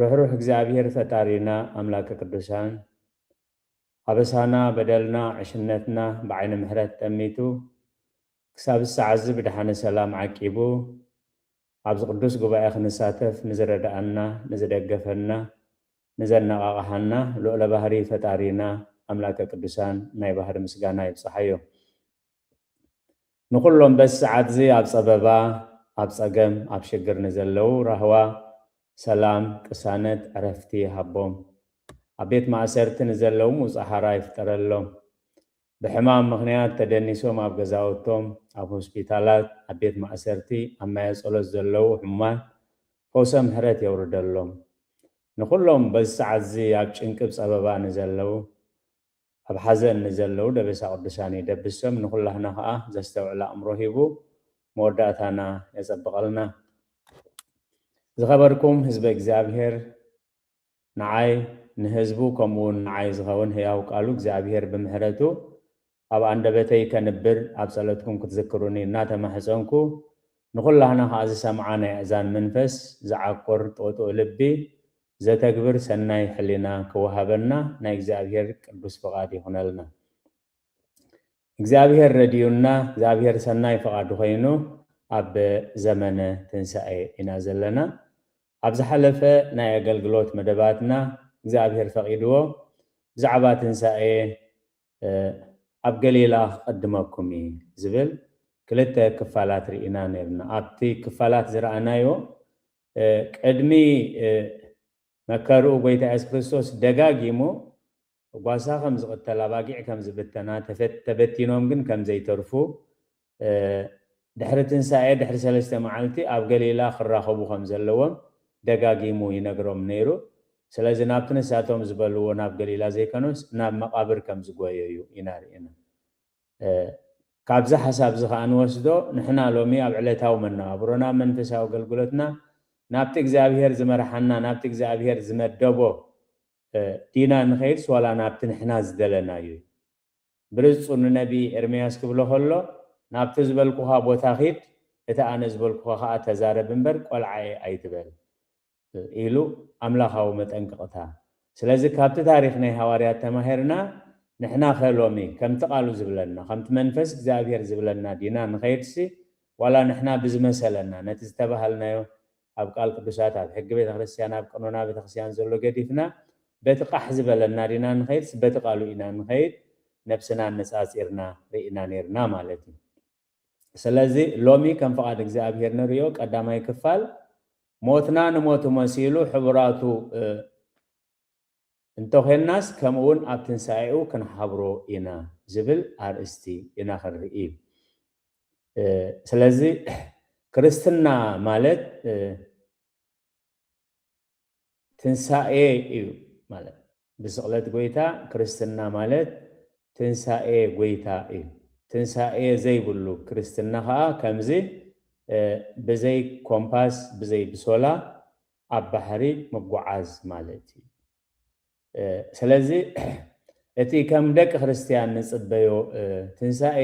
ርሕሩሕ እግዚኣብሔር ፈጣሪና ኣምላከ ቅዱሳን ኣበሳና በደልና ዕሽነትና ብዓይነ ምሕረት ጠሚቱ ክሳብ ዝሰዓዚ ብድሓነ ሰላም ዓቂቡ ኣብዚ ቅዱስ ጉባኤ ክንሳተፍ ንዝረደኣና ንዝደገፈና ንዘነቓቕሓና ልዑለ ባህሪ ፈጣሪና ኣምላከ ቅዱሳን ናይ ባህሪ ምስጋና ይብፀሓዮ። ንኹሎም በዚ ሰዓትዚ ኣብ ጸበባ፣ ኣብ ጸገም፣ ኣብ ሽግር ንዘለዉ ራህዋ፣ ሰላም፣ ቅሳነት፣ ዕረፍቲ ይሃቦም። ኣብ ቤት ማእሰርቲ ንዘለዉ ምውጻእ ሓራ ይፍጠረሎም። ብሕማም ምኽንያት ተደኒሶም ኣብ ገዛውቶም፣ ኣብ ሆስፒታላት፣ ኣብ ቤት ማእሰርቲ፣ ኣብ ማየ ጸሎት ዘለዉ ሕሙማት ፈውሰ ምሕረት የውርደሎም። ንኹሎም በዚ ሰዓትዚ ኣብ ጭንቂ ብ ጸበባ ንዘለዉ ኣብ ሓዘን ንዘለዉ ደበሳ ቅዱሳን የደብሶም ንኩላህና ከኣ ዘስተውዕል ኣእምሮ ሂቡ መወዳእታና የጸብቀልና። ዝኸበርኩም ህዝበ እግዚኣብሔር ንዓይ ንህዝቡ ከምኡ ውን ንዓይ ዝኸውን ህያው ቃሉ እግዚኣብሔር ብምሕረቱ ኣብ ኣንደበተይ ከንብር ኣብ ጸሎትኩም ክትዝክሩኒ እናተማሕጸንኩ ንኩላህና ከኣ ዝሰምዓ ናይ ኣእዛን መንፈስ ዝዓቁር ጥቕጡቅ ልቢ ዘተግብር ሰናይ ሕሊና ክወሃበና ናይ እግዚኣብሔር ቅዱስ ፍቃድ ይኹነልና። እግዚኣብሔር ረዲኡና እግዚኣብሔር ሰናይ ፍቃዱ ኮይኑ ኣብ ዘመነ ትንሳኤ ኢና ዘለና። ኣብ ዝሓለፈ ናይ ኣገልግሎት መደባትና እግዚኣብሔር ፈቂድዎ ብዛዕባ ትንሳኤ ኣብ ገሊላ ክቅድመኩም እየ ዝብል ክልተ ክፋላት ርኢና ነይርና። ኣብቲ ክፋላት ዝረኣናዮ ቅድሚ መከርኡ ጎይታ የሱስ ክርስቶስ ደጋጊሙ ጓሳ ከም ዝቅተል ኣባጊዕ ከም ዝብተና ተበቲኖም ግን ከም ዘይተርፉ ድሕሪ ትንሳኤ ድሕሪ ሰለስተ መዓልቲ ኣብ ገሊላ ክራከቡ ከም ዘለዎም ደጋጊሙ ይነግሮም ነይሩ ስለዚ ናብቲ ንሳቶም ዝበልዎ ናብ ገሊላ ዘይከኖስ ናብ መቃብር ከም ዝጎየዩ ኢና ሪኢና ካብዚ ሓሳብዚ ከኣ እንወስዶ ንሕና ሎሚ ኣብ ዕለታዊ መነባብሮና ኣብ መንፈሳዊ ኣገልግሎትና ናብቲ እግዚኣብሄር ዝመርሓና ናብቲ እግዚኣብሄር ዝመደቦ ዲና ንኸይድስ ዋላ ናብቲ ንሕና ዝደለናዩ ብርጹ ንነቢ ኤርምያስ ክብሎ ከሎ ናብቲ ዝበልኩኻ ቦታ ኺድ እቲ ኣነ ዝበልኩኻ ከኣ ተዛረብ እምበር ቆልዓየ ኣይትበል ኢሉ ኣምላኻዊ መጠንቀቕታ። ስለዚ ካብቲ ታሪኽ ናይ ሃዋርያት ተማሂርና ንሕናኸ ሎሚ ከምቲ ቃሉ ዝብለና ከምቲ መንፈስ እግዚኣብሄር ዝብለና ዲና ንኸይድሲ ዋላ ንሕና ብዝመሰለና ነቲ ዝተባሃልናዮ ኣብ ቃል ቅዱሳት ኣብ ሕጊ ቤተክርስትያን ኣብ ቀኖና ቤተክርስትያን ዘሎ ገዲፍና በቲ ቃሕ ዝበለና ዲና ንኸይድሲ በቲ ቃሉ ኢና ንኸይድ ነብስና ኣነጻጺርና ርኢና ኔርና ማለት እዩ። ስለዚ ሎሚ ከም ፍቓድ እግዚኣብሔር ንርእዮ ቀዳማይ ክፋል ሞትና ንሞቱ መሲሉ ሕቡራቱ እንተዄንናስ ከምኡውን ኣብ ትንሣኤኡ ክንሓብሮ ኢና ዝብል ኣርእስቲ ኢና ክንርኢ። ስለዚ ክርስትና ማለት ትንሳኤ እዩ ማለት ብስቕለት ጎይታ ክርስትና ማለት ትንሳኤ ጎይታ እዩ ትንሳኤ ዘይብሉ ክርስትና ከኣ ከምዚ ብዘይ ኮምፓስ ብዘይ ብሶላ ኣብ ባሕሪ ምጉዓዝ ማለት እዩ። ስለዚ እቲ ከም ደቂ ክርስትያን ንጽበዮ ትንሳኤ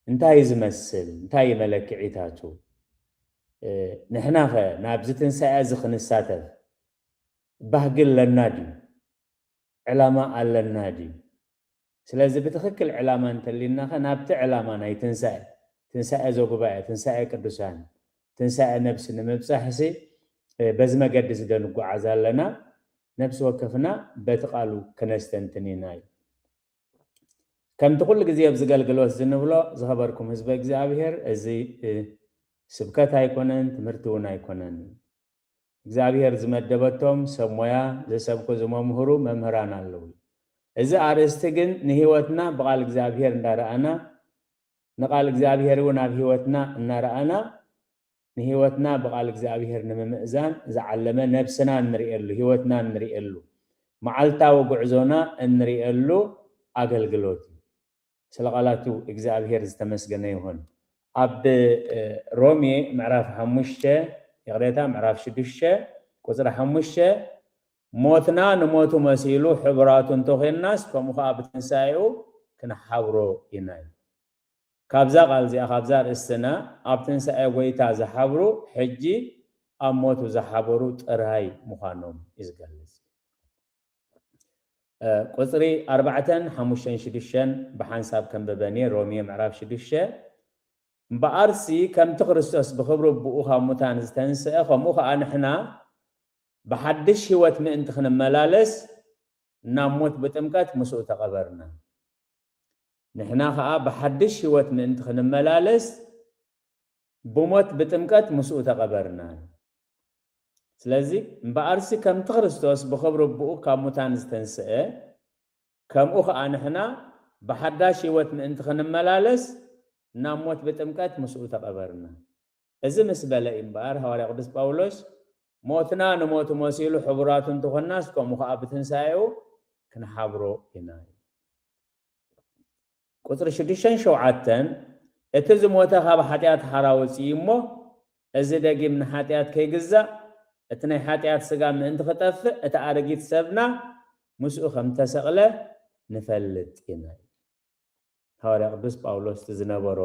እንታይ ዝመስል እንታይ መለክዒታቱ ንሕናኸ ናብዚ ትንሳኤ እዚ ክንሳተፍ ባህጊ ኣለና ድዩ ዕላማ ኣለና ድዩ ስለዚ ብትኽክል ዕላማ እንተሊናኸ ናብቲ ዕላማ ናይ ትንሳኤ፣ ትንሳኤ ዘጉባኤ፣ ትንሳኤ ቅዱሳን፣ ትንሳኤ ነብሲ ንምብጻሕሲ በዚ መገዲዚ ዶ ንጎዓዝ ኣለና? ነብሲ ወከፍና በቲ ቃሉ ክነስተንትን ኢና ኢሉ። ከምቲ ኩሉ ግዜ ኣብዚ ገልግሎትዚ ንብሎ ዝኸበርኩም ህዝበ እግዚኣብሔር እዚ ስብከት ኣይኮነን ትምህርቲውን ኣይኮነን። እግዚኣብሔር ዝመደበቶም ሰብ ሞያ ዘሰብኩ ዝመምህሩ መምህራን ኣለዉ እዚ ኣርእስቲ ግን ንህይወትና ብቃል እግዚኣብሔር እንዳረኣና ንቃል እግዚኣብሔር እውን ኣብ ህይወትና እናረኣና ንህይወትና ብቃል እግዚኣብሔር ንምምእዛን ዝዓለመ ነብስና እንርእየሉ ህይወትና እንርእየሉ መዓልታዊ ጉዕዞና እንርእየሉ ኣገልግሎት እዩ ስለ ቃላቱ እግዝኣብሄር ዝተመስገነ ይኹን። ኣብ ሮሜ ምዕራፍ ሓሙሽተ ይቕሬታ ምዕራፍ ሽዱሽተ ቁጽሪ ሓሙሽተ ሞትና ንሞቱ መሲሉ ሕቡራቱ እንተ ዄንናስ ከምኡ ኸኣ ብትንሳኤኡ ክንሓብሮ ኢና ይብል። ካብዛ ቃል እዚኣ ካብዛ ኣርእስትና ኣብ ትንሳኤ ጐይታ ዝሓብሩ ሕጂ ኣብ ሞቱ ዝሓበሩ ጥራይ ምዃኖም እዩ ዝገልጽ። ቁጽሪ ኣርባዕተን ሓሙሽተን ሽዱሽተን ብሓንሳብ ከንብበን'የ፣ ሮሜ ምዕራፍ ሽዱሽተ፣ እምበኣርሲ ከምቲ ክርስቶስ ብኽብሪ ኣቦኡ ኻብ ሙታን ዝተንስአ፣ ከምኡ ኸኣ ንሕና ብሓድሽ ህይወት ምእንቲ ኽንመላለስ፣ ናብ ሞት ብጥምቀት ምስኡ ተቐበርና። ንሕና ኸኣ ብሓድሽ ህይወት ምእንቲ ኽንመላለስ፣ ብሞት ብጥምቀት ምስኡ ተቐበርና ኢሉ። ስለዚ እምበኣርሲ ከምቲ ክርስቶስ ብኽብሪ ኣቦኡ ካብ ሙታን ዝተንስኤ፣ ከምኡ ኸኣ ንሕና ብሓዳሽ ህይወት ምእንቲ ኽንመላለስ ናብ ሞት ብጥምቀት ምስኡ ተቐበርና። እዚ ምስ በለ እዩ እምበኣር ሃዋርያ ቅዱስ ጳውሎስ ሞትና ንሞቱ መሲሉ ሕቡራት እንተ ዀንናስ ከምኡ ኸኣ ብትንሳኤኡ ክንሓብሮ ኢና ኢሉ። ቁጽሪ ሽዱሽተን ሸውዓተን እቲ ዝሞተ ካብ ሓጢኣት ሓራ ወጺኡ እዩ እሞ፣ እዚ ደጊም ንሓጢኣት ከይግዛእ፣ እቲ ናይ ሓጢኣት ስጋ ምእንቲ ክጠፍእ እቲ ኣረጊት ሰብና ምስኡ ከም እተሰቕለ ንፈልጥ ኢና ይብል። ሃዋርያ ቅዱስ ጳውሎስ እቲ ዝነበሮ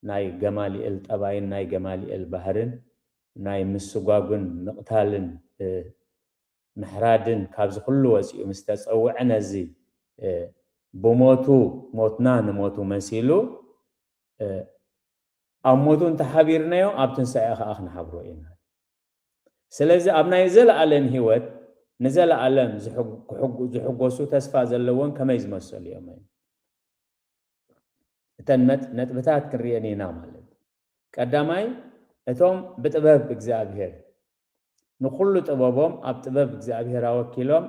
ናይ ገማልኤል ጠባይን ናይ ገማልኤል ባህርን ናይ ምስጓጕን ምቕታልን ምሕራድን ካብዚ ኩሉ ወጺኡ ምስ ተጸውዐ ነዚ ብሞቱ ሞትና ንሞቱ መሲሉ ኣብ ሞቱ እንተ ሓቢርናዮ ኣብ ትንሳኤ ከኣ ክንሓብሮ ኢና ስለዚ ኣብ ናይ ዘለኣለም ህይወት ንዘለኣለም ዝሕጎሱ ተስፋ ዘለዎን ከመይ ዝመሰሉ እዮም እዮም እተን ነጥብታት ክንሪኤን ኢና ማለት ቀዳማይ እቶም ብጥበብ እግዚኣብሔር ንኹሉ ጥበቦም ኣብ ጥበብ እግዚኣብሔር ኣወኪሎም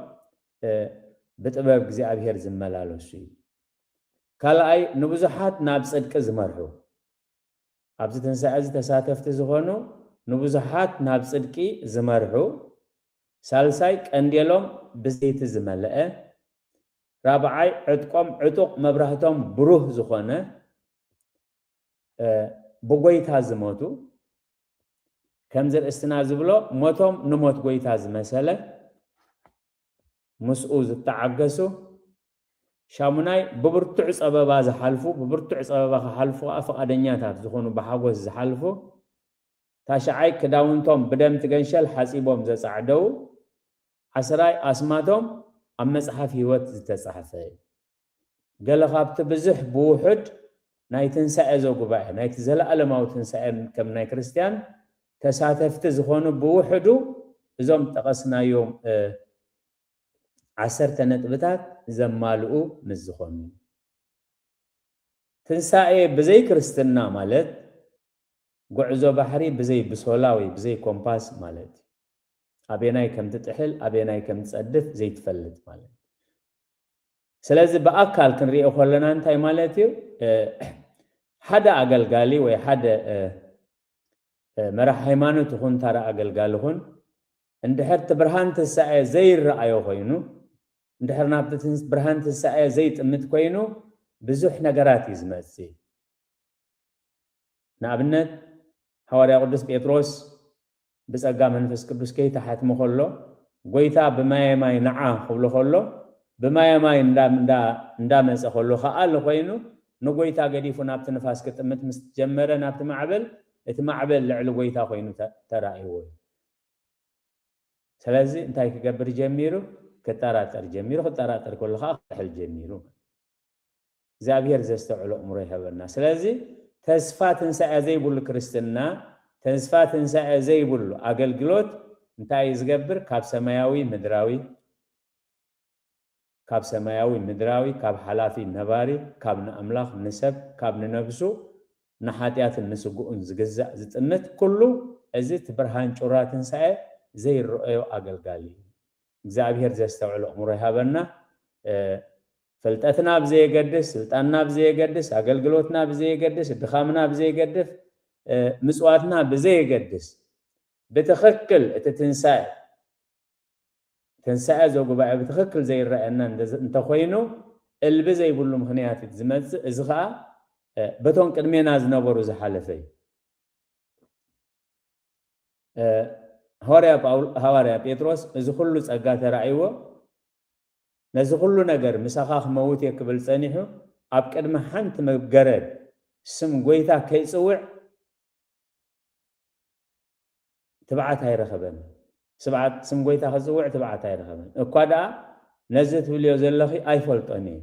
ብጥበብ እግዚኣብሔር ዝመላለሱ እዩ። ካልኣይ ንብዙሓት ናብ ጽድቂ ዝመርሑ ኣብዚ ትንሣኤ እዚ ተሳተፍቲ ዝኾኑ ንብዙሓት ናብ ጽድቂ ዝመርሑ ሳልሳይ ቀንዴሎም ብዘይቲ ዝመለአ ራብዓይ ዕጥቆም ዕጡቕ መብራህቶም ብሩህ ዝኾነ ብጎይታ ዝመቱ ከምዚ ርእስትና ዝብሎ ሞቶም ንሞት ጎይታ ዝመሰለ ምስኡ ዝተዓገሱ ሻሙናይ ብብርቱዕ ጸበባ ዝሓልፉ ብብርቱዕ ጸበባ ክሓልፉ ከዓ ፍቓደኛታት ዝኾኑ ብሓጎስ ዝሓልፉ ታሽዓይ ክዳውንቶም ብደም ትገንሸል ሓጺቦም ዘጻዕደው ዓስራይ ኣስማቶም ኣብ መጽሓፍ ህይወት ዝተጻሕፈ እዩ። ገለ ኻብቲ ብዙሕ ብውሑድ ናይ ትንሳኤ ዘጉባኤ፣ ናይቲ ዘለኣለማዊ ትንሳኤ ከም ናይ ክርስትያን ተሳተፍቲ ዝዀኑ ብውሕዱ እዞም ጠቐስናዮም ዓሰርተ ነጥብታት ዘማልኡ ምስ ዝዀኑ እዩ። ትንሳኤ ብዘይ ክርስትና ማለት ጕዕዞ ባሕሪ ብዘይ ብሶላ ወይ ብዘይ ኮምፓስ ማለት እዩ። ኣበየናይ ከም ትጥሕል ኣበየናይ ከም ትጸድፍ ዘይትፈልጥ ማለት እዩ። ስለዚ ብኣካል ክንሪኦ ከለና እንታይ ማለት እዩ ሓደ ኣገልጋሊ ወይ ሓደ መራሕ ሃይማኖት ይኹን ታራ ኣገልጋሊ ኹን እንድሕር እቲ ብርሃን ትንሳኤ ዘይረኣዮ ኮይኑ እንድሕር ናብቲ ብርሃን ትንሳኤ ዘይጥምት ኮይኑ ብዙሕ ነገራት እዩ ዝመፅእ ንኣብነት ሃዋርያ ቅዱስ ጴጥሮስ ብጸጋ መንፈስ ቅዱስ ከይተሓትመ ከሎ ጎይታ ብማየ ማይ ንዓ ክብሎ ከሎ ብማየ ማይ እንዳ መጸ ከሎ ክኣል ኮይኑ ንጎይታ ገዲፉ ናብቲ ንፋስ ክጥምት ምስ ጀመረ ናብቲ ማዕበል እቲ ማዕበል ልዕሊ ጎይታ ኮይኑ ተራእይዎ እዩ። ስለዚ እንታይ ክገብር ጀሚሩ ክጠራጠር ጀሚሩ ክጠራጠር ከሎ ከዓ ክሕል ጀሚሩ። እግዚኣብሔር ዘስተውዕሎ ኣእምሮ ይሀበና ስለዚ ተስፋ ትንሳኤ ዘይብሉ ክርስትና ተስፋ ትንሳኤ ዘይብሉ ኣገልግሎት እንታይ እዩ ዝገብር ካብ ሰማያዊ ምድራዊ ካብ ሰማያዊ ምድራዊ ካብ ሓላፊ ነባሪ ካብ ንኣምላኽ ንሰብ ካብ ንነብሱ ንሓጢኣትን ንስግኡን ዝግዛእ ዝጥምት ኩሉ እዚ እቲ ብርሃን ጩራ ትንሳኤ ዘይረኦዮ ኣገልጋሊ እዩ እግዚኣብሔር ዘስተውዕሎ ኣእምሮ ይሀበና ፍልጠትና ብዘየገድስ፣ ስልጣንና ብዘየገድስ፣ ኣገልግሎትና ብዘየገድስ፣ ድኻምና ብዘይገድፍ፣ ምጽዋትና ብዘየገድስ፣ ብትኽክል እቲ ትንሳኤ ትንሳኤ ዘጉባኤ ብትኽክል ዘይረኣየና እንተኾይኑ እልቢ ዘይብሉ ምኽንያት እዩ ዝመጽእ፣ እዚ ኸኣ በቶም ቅድሜና ዝነበሩ ዝሓለፈ እዩ። ሃዋርያ ሃዋርያ ጴጥሮስ እዚ ኹሉ ጸጋ ተራእይዎ ነዚ ኩሉ ነገር ምሳኻ ክመውት እየ ክብል ጸኒሑ ኣብ ቅድሚ ሓንቲ መገረድ ስም ጎይታ ከይጽውዕ ትብዓት ኣይረኸበን ስብዓት ስም ጎይታ ክጽውዕ ትብዓት ኣይረኸበን እኳ ደኣ ነዚ ትብልዮ ዘለኺ ኣይፈልጦን እየ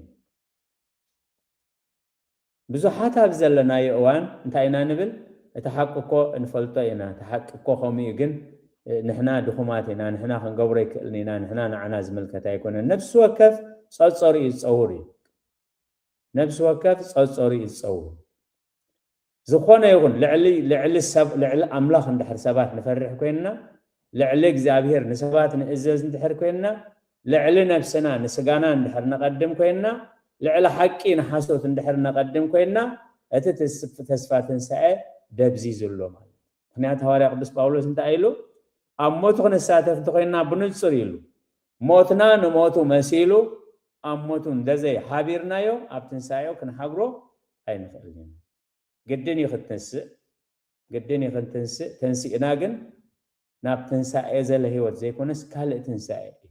ብዙሓት ኣብዚ ዘለናዮ እዋን እንታይ ኢና ንብል እቲ ሓቂ እኮ ንፈልጦ ኢና እቲ ሓቂ እኮ ከምኡ እዩ ግን ንሕና ድኹማት ኢና ንሕና ክንገብሮ ኣይክእልን ኢና ንሕና ንዓና ዝምልከት ኣይኮነን ነብሲ ወከፍ ጸጸርኡ ዝጸውር እዩ ነብሲ ወከፍ ጸጸርኡ ዝጸውር ዝኾነ ይኹን ልዕሊ ልዕሊ ሰብ ልዕሊ ኣምላኽ እንድሕር ሰባት ንፈርሕ ኮይንና ልዕሊ እግዚኣብሄር ንሰባት ንእዘዝ እንድሕር ኮይንና ልዕሊ ነብስና ንስጋና እንድሕር ነቐድም ኮይንና ልዕሊ ሓቂ ንሓሶት እንድሕር ነቐድም ኮይንና እቲ ተስፋ ትንሳኤ ደብዚዙ ኣሎ ማለት ምኽንያት ሃዋርያ ቅዱስ ጳውሎስ እንታይ ኢሉ ኣብ ሞቱ ክንሳተፍ እንተኮይንና ብንጹር ኢሉ ሞትና ንሞቱ መሲሉ ኣብ ሞቱ እንደዘይ ሓቢርናዮ ኣብ ትንሳኤኡ ክንሓብሮ ኣይንኽእልን ኢና ግድን እዩ ክትንስእ ግድን እዩ ክንትንስእ ተንሲእና ግን ናብ ትንሳኤ ዘለ ህይወት ዘይኮነስ ካልእ ትንሳኤ እዩ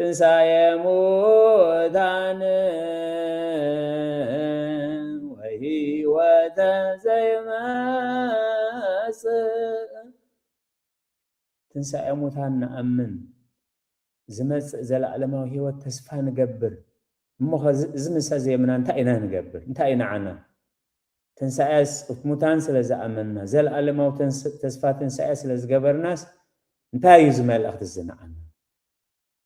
ትንሣኤ ሙታን ወሕይወተ ዘይመጽእ ትንሣኤ ሙታን ንኣምን ዝመጽእ ዘለዓለማዊ ህይወት ተስፋ ንገብር እሞኸ እዚ ምሰ ዘየምና እንታይ ኢና ንገብር እንታይ ኢና ዓና ትንሣኤ ሙታን ስለ ዝኣመንና ዘለዓለማዊ ተስፋ ትንሣኤ ስለ ዝገበርናስ እንታይ እዩ እዚ መልእኽቲ እዚ ንዓና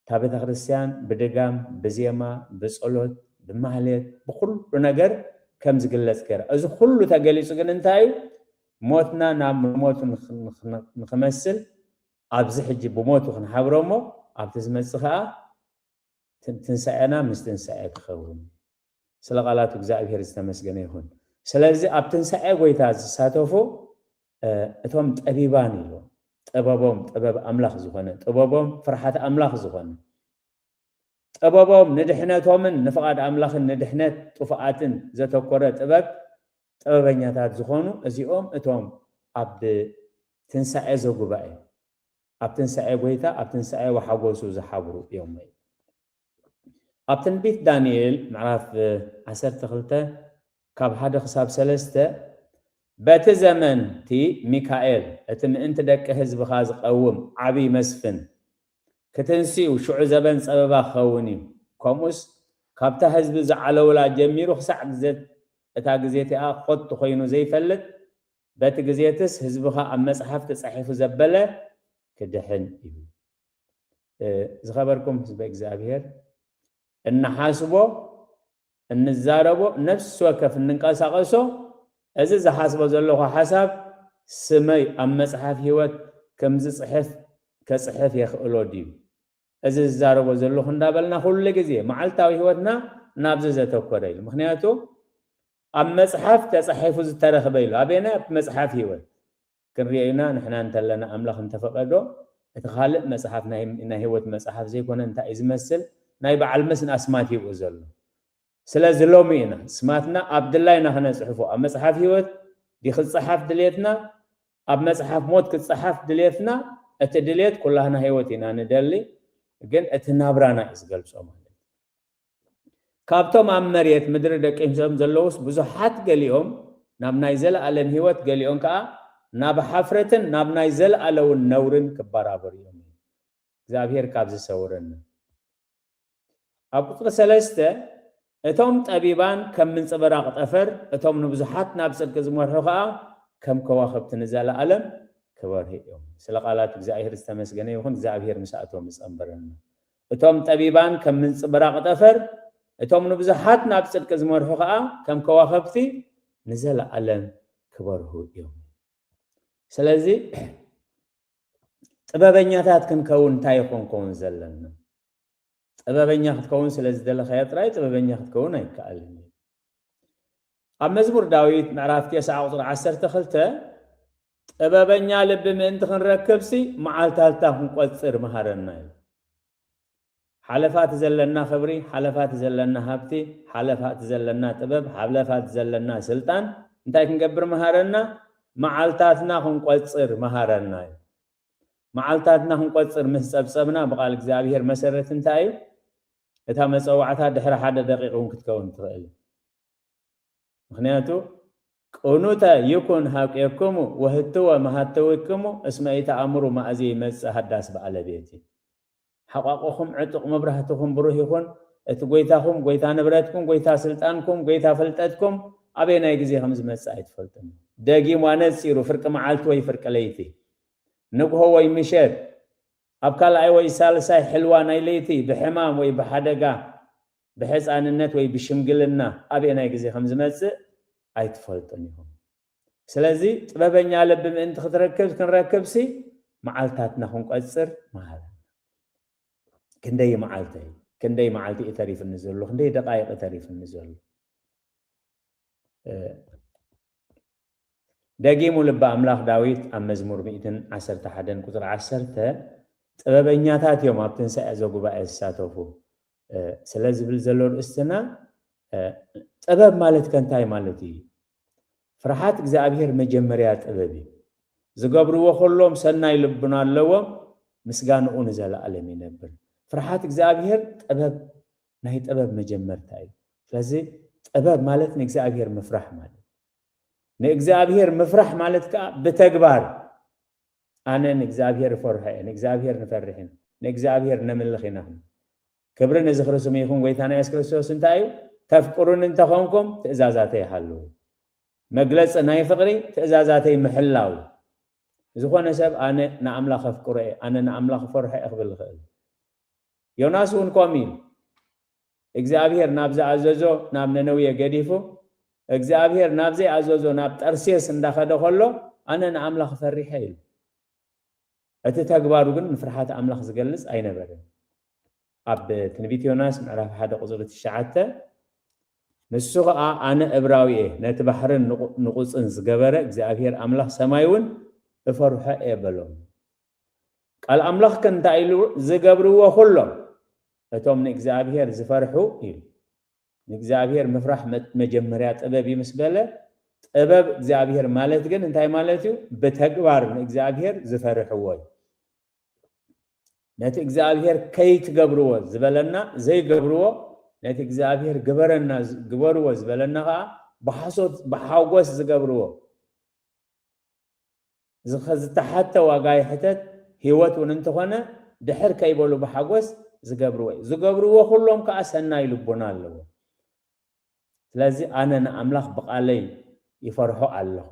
እታ ቤተክርስትያን ብድጋም፣ ብዜማ፣ ብጸሎት፣ ብማህሌት፣ ብኹሉ ነገር ከም ዝግለጽ ገይራ። እዚ ኩሉ ተገሊጹ ግን እንታይ እዩ ሞትና ናብ መሞቱ ንክመስል ኣብዚ ሕጂ ብሞቱ ክንሓብሮ እሞ ኣብቲ ዝመጽእ ከኣ ትንሳኤና ምስ ትንሳኤ ክኸውን እዩ። ስለ ቃላቱ እግዝኣብሄር ዝተመስገነ ይኹን ስለዚ ኣብ ትንሳኤ ጎይታ ዝሳተፉ እቶም ጠቢባን ኢሉ ጥበቦም ጥበብ ኣምላኽ ዝኾነ ጥበቦም ፍርሓት ኣምላኽ ዝኾነ ጥበቦም ንድሕነቶምን ንፍቓድ ኣምላኽን ንድሕነት ጥፉኣትን ዘተኮረ ጥበብ ጥበበኛታት ዝኾኑ እዚኦም እቶም ኣብ ትንሳኤ ዘጉባኤ ኣብ ትንሳኤ ጎይታ ኣብ ትንሳኤ ወሓጎሱ ዝሓብሩ እዮም። ኣብ ትንቢት ዳንኤል ምዕራፍ ዓሰርተ ክልተ ካብ ሓደ ክሳብ ሰለስተ፣ በቲ ዘመን'ቲ ሚካኤል፣ እቲ ምእንቲ ደቂ ህዝብኻ ዝቐውም ዓብዪ መስፍን፣ ክትንስ'ዩ፣ ሽዑ ዘበን ጸበባ ክኸውን እዩ፣ ከምኡስ ካብታ ህዝቢ ዝዓለውላ ጀሚሩ ክሳዕ ግዜ እታ ግዜ እቲኣ ኾቱ ኮይኑ ዘይፈልጥ፣ በቲ ግዜ'ትስ ህዝብኻ ኣብ መጽሓፍ ተጻሒፉ ዘበለ ክድሕን እዩ። ዝኸበርኩም ህዝበ እግዚኣብሔር እንሓስቦ እንዛረቦ ነፍሲ ወከፍ እንንቀሳቐሶ እዚ ዝሓስቦ ዘለኹ ሓሳብ ስመይ ኣብ መጽሓፍ ህይወት ከም ዝጽሕፍ ከጽሕፍ የኽእሎ ድዩ እዚ ዝዛረቦ ዘለኹ እንዳበልና ኩሉ ግዜ መዓልታዊ ህይወትና ናብዚ ዘተኮረ ኢሉ ምክንያቱ ኣብ መጽሓፍ ተጻሒፉ ዝተረኽበ ኢሉ ኣበየናይ ኣብ መጽሓፍ ህይወት ክንሪኦ ኢና ንሕና እንተለና ኣምላኽ እንተፈቀዶ እቲ ካልእ መጽሓፍ ናይ ናይ ህይወት መጽሓፍ ዘይኮነ እንታይ እዩ ዝመስል ናይ በዓል መስን ኣስማት ይብኡ ዘሎ ስለዚ ሎሚ ኢና ስማትና ኣብ ድላይና ክነጽሕፎ ኣብ መጽሓፍ ህይወት ዲ ክጸሓፍ ድልየትና ኣብ መጽሓፍ ሞት ክጸሓፍ ድልየትና እቲ ድልየት ኩላህና ህይወት ኢና ንደሊ ግን እቲ ናብራና እዩ ዝገልጾ ማለት ካብቶም ኣብ መሬት ምድሪ ደቂሶም ዘለዉስ ብዙሓት ገሊኦም ናብ ናይ ዘለኣለም ህይወት ገሊኦም ከኣ ናብ ሓፍረትን ናብ ናይ ዘለኣለውን ነውርን ክበራበሩ እዮም እዩ እግዚኣብሔር ካብዚ ሰውረና ኣብ ቁጽሪ ሰለስተ እቶም ጠቢባን ከም ምንጽብራቕ ጠፈር እቶም ንብዙሓት ናብ ጽድቂ ዝመርሑ ከኣ ከም ከዋኽብቲ ንዘለኣለም ክበርሁ እዮም ስለ ቃላት እግዚኣብሔር ዝተመስገነ ይኹን እግዚኣብሔር ምስኣቶም ይጸንበረና እቶም ጠቢባን ከም ምንጽብራቕ ጠፈር፣ እቶም ንብዙሓት ናብ ጽድቂ ዝመርሑ ኸኣ ከም ከዋኸብቲ ንዘለኣለም ክበርሁ ኢዮም። ስለዚ ጥበበኛታት ክንከውን እንታይ ኢዩ ክንከውን ዘለና? ጥበበኛ ክትከውን ስለ ዝደለኻዮ ጥራይ ጥበበኛ ክትከውን ኣይከኣልን ኢዩ። ኣብ መዝሙር ዳዊት ምዕራፍ ቴስዓ ቁፅሪ ዓሰርተ ክልተ ጥበበኛ ልቢ ምእንቲ ክንረክብሲ መዓልታትታ ክንቆፅር መሃረና እዩ። ሓለፋ እቲ ዘለና ክብሪ፣ ሓለፋ እቲ ዘለና ሃብቲ፣ ሓለፋ እቲ ዘለና ጥበብ፣ ሓለፋ እቲ ዘለና ስልጣን እንታይ ክንገብር መሃረና? መዓልታትና ክንቆፅር መሃረና እዩ። መዓልታትና ክንቆፅር ምስ ፀብፀብና ብቃል እግዚኣብሄር መሰረት እንታይ እዩ? እታ መጸዋዕታ ድሕሪ ሓደ ደቂቅ ውን ክትከውን ትኽእል ምኽንያቱ ቅኑተ ይኩን ኀቄክሙ ወህትወ መሃተዊክሙ እስመ ኢተኣምሩ ማእዜ ይመጽእ ሃዳስ በኣለ ቤቲ ሓቋቆኹም ዕጡቅ መብራህትኹም ብሩህ ይኹን እቲ ጎይታኹም ጎይታ ንብረትኩም ጎይታ ስልጣንኩም ጎይታ ፍልጠትኩም ኣበየናይ ግዜ ከም ዝመጽእ ኣይትፈልጡን ደጊሙ ኣነጺሩ ፍርቂ መዓልቲ ወይ ፍርቂ ለይቲ ንግሆ ወይ ምሸት ኣብ ካልኣይ ወይ ሳልሳይ ሕልዋ ናይ ለይቲ፣ ብሕማም ወይ ብሓደጋ፣ ብሕጻንነት ወይ ብሽምግልና፣ ኣበየናይ ግዜ ከም ዝመጽእ ኣይትፈልጡን ኢኹም። ስለዚ ጥበበኛ ልቢ ምእንቲ ክትረክብ ክንረክብሲ መዓልታትና ክንቆጽር መሃረና። ክንደይ እዩ መዓልተይ? ክንደይ መዓልቲ እዩ ተሪፉኒ ዘሎ? ክንደይ ደቓይቕ እዩ ተሪፉኒ ዘሎ? ደጊሙ ልቢ ኣምላኽ ዳዊት ኣብ መዝሙር ሚእትን ዓሰርተ ሓደን ቁጽሪ ዓሰርተ ጥበበኛታት እዮም ኣብ ትንሳኤ ዘጉባኤ ዝሳተፉ ስለ ዝብል ዘሎ ርእስትና ጥበብ ማለት ከንታይ ማለት እዩ ፍርሓት እግዚኣብሔር መጀመርያ ጥበብ እዩ ዝገብርዎ ከሎም ሰናይ ልቡና ኣለዎም ምስጋንኡ ንዘለኣለም ይነብር ፍርሓት እግዚኣብሔር ጥበብ ናይ ጥበብ መጀመርታ እዩ ስለዚ ጥበብ ማለት ንእግዚኣብሔር ምፍራሕ ማለት ንእግዚኣብሄር ምፍራሕ ማለት ከኣ ብተግባር ኣነ ንእግዚኣብሄር እፈርሖ እየ፣ ንእግዚኣብሄር ንፈርሕ ኢና፣ ንእግዚኣብሄር ነምልኽ ኢና ክንብል። ክብሪ ንዝኽሪ ስሙ ይኹን ጎይታና የሱስ ክርስቶስ እንታይ እዩ? ተፍቅሩኒ እንተ ኾንኩም ትእዛዛተይ ሃልዉ። መግለጺ ናይ ፍቕሪ ትእዛዛተይ ምሕላው እዩ። ዝኾነ ሰብ ኣነ ንኣምላኽ ኣፍቅሮ እየ፣ ኣነ ንኣምላኽ እፈርሖ እየ ክብል ይኽእል እዩ። ዮናስ እውን ከምኡ ኢሉ። እግዚኣብሄር ናብ ዝኣዘዞ ናብ ነነውየ ገዲፉ እግዚኣብሄር ናብ ዘይኣዘዞ ናብ ጠርሴስ እንዳኸደ ከሎ ኣነ ንኣምላኽ ፈሪሐ ኢሉ። እቲ ተግባሩ ግን ንፍርሓት ኣምላኽ ዝገልጽ ኣይነበርን። ኣብ ትንቢት ዮናስ ምዕራፍ ሓደ ቁጽሪ ትሽዓተ ንሱ ኸኣ ኣነ እብራዊ እየ፣ ነቲ ባሕርን ንቑጽን ዝገበረ እግዚኣብሄር ኣምላኽ ሰማይ እውን እፈርሖ እየ በሎም። ቃል ኣምላኽ ከ እንታይ ኢሉ ዝገብርዎ ኩሎም እቶም ንእግዚኣብሄር ዝፈርሑ ኢሉ ንእግዚኣብሄር ምፍራሕ መጀመርያ ጥበብ እዩ ምስ በለ ጥበብ እግዚኣብሄር ማለት ግን እንታይ ማለት እዩ ብተግባር ንእግዚኣብሄር ዝፈርሕዎ እዩ ነቲ እግዚኣብሄር ከይትገብርዎ ዝበለና ዘይገብርዎ ነቲ እግዚኣብሄር ግበረና ግበርዎ ዝበለና ከዓ ብሓሶት ብሓጎስ ዝገብርዎ ዝተሓተ ዋጋ ይሕተት ሂወት ውን እንተኾነ ድሕር ከይበሉ ብሓጎስ ዝገብርዎ እዩ ዝገብርዎ ኩሎም ከኣ ሰናይ ልቦና ኣለዎም ስለዚ ኣነ ንኣምላኽ ብቃለይ ይፈርሖ ኣለኹ